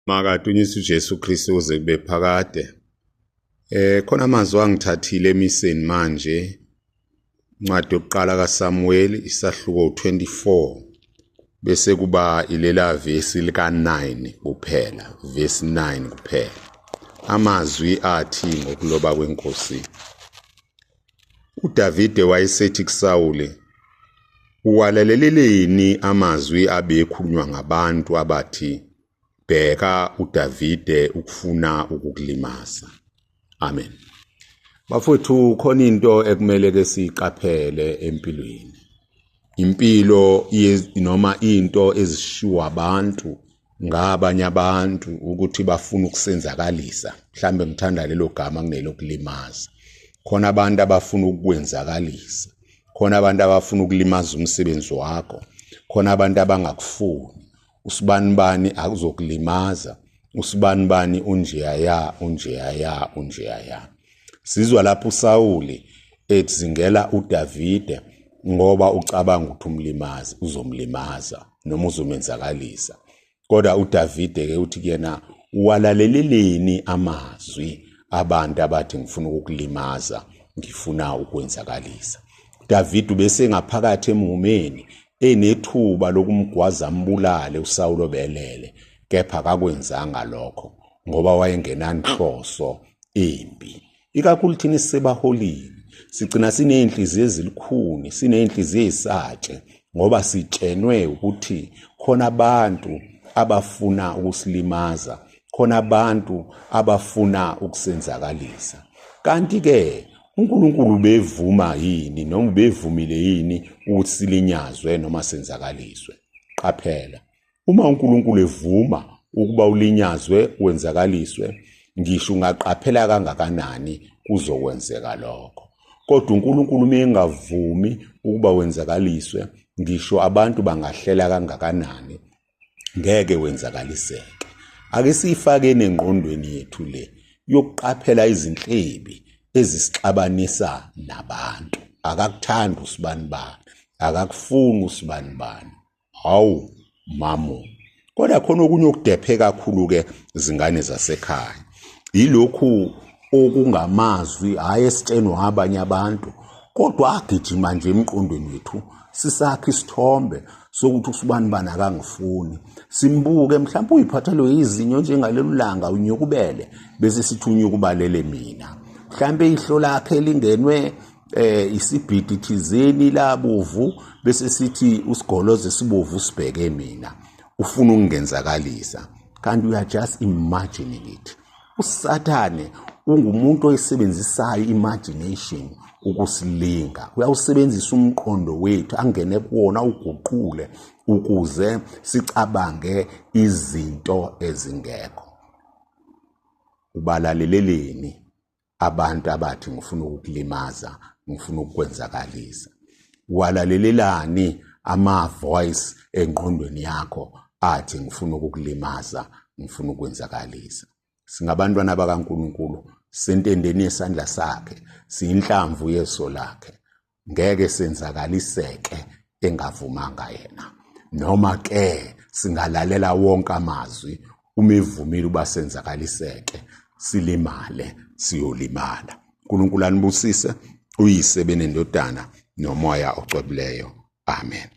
makadunyiswe uJesu Kristu uze kube phakade eh khona amazwi angithathile emiseni manje incwadi yokuqala kaSamuel isahluko 24 bese kuba ilela vesi lika 9 kuphela vesi 9 kuphela amazwi athi ngokuloba kwenkosi uDavide wayesethi kuSawule uwalaleleleni amazwi abekhulunywa ngabantu abathi bheka uDavide ukufuna ukukulimaza amen bafowethu khona into ekumele ke siqaphele empilweni impilo noma into ezishiwa abantu ngabanye abantu ukuthi bafuna ukusenzakalisa mhlambe ngithanda lelo gama kunelokulimaza khona abantu abafuna ukukwenzakalisa khona abantu abafuna ukulimaza umsebenzi wakho khona abantu abangakufuni usibanibani akuzokulimaza usibanibani unjeyaya unjeyaya unjeyaya sizwa lapho uSawuli ethi zingela uDavide ngoba ucabanga ukuthi umlimazi uzomlimaza noma uzomenzakalisa kodwa uDavide ke uthi kuyena walaleleleni amazwi abantu abathi ngifuna ukukulimaza ngifuna ukwenzakalisa David ubesengaphakathi emhumeni enethuba lokumgwaza ambulale uSawulo belele kepha akakwenzanga lokho ngoba wayengenanhloso embi ikakhulu thina sisebaholini sigcina siney'nhliziyo ezilukhuni siney'nhliziyo ey'satshe ngoba sitshenwe ukuthi khona abantu abafuna ukusilimaza khona abantu abafuna ukusenzakalisa kanti-ke uNkulunkulu ubevuma yini noma ubevumile yini ukuthi silinyazwe noma senzakaliswe qaphela uma uNkulunkulu evuma ukuba ulinyazwe wenzakaliswe ngisho ungaqaphela kangakanani kuzokwenzeka lokho kodwa uNkulunkulu uma engavumi ukuba wenzakaliswe ngisho abantu bangahlela kangakanani ngeke wenzakaliseke ake siyifakeni engqondweni yethu le yokuqaphela izinhlebi ezisixabanisa nabantu akakuthandi usibani bani akakufuni usibani bani hawu mamu kodwa khona okunye okudephe kakhulu-ke zingane zasekhaya yilokhu okungamazwi hhayi esitshenwa abanye abantu kodwa agijima nje emqondweni wethu sisakhe isithombe sokuthi usubani bani akangifuni simbuke mhlawumbe uyiphathelwe yizinyo njengalelo langa unyukubele bese sithi unyukubalele mina mhlawumbe ihlo lakhe lingenwe eh isibhidi thizeni labovu bese sithi usigoloze sibovu sibheke mina ufuna ukungenzakalisa kanti we are just imagining it usathane ungumuntu oyisebenzisayo imagination ukusilinga uyawusebenzisa umqondo wethu angene kuwona uguqule ukuze sicabange izinto ezingekho ubalaleleleni abantu abathi ngifuna ukukulimaza ngifuna ukukwenzakalisa walalelelani ama voice engqondweni yakho athi ngifuna ukukulimaza ngifuna ukwenzakalisa singabantwana bakaNkuluNkulu sentendeni yesandla sakhe siyinhlamvu yeso lakhe ngeke senzakaliseke engavumanga yena noma ke singalalela wonke amazwi uma evumile uba senzakaliseke silimale siyolimala uNkulunkulu anibusise uyise benendodana nomoya ocwebileyo amen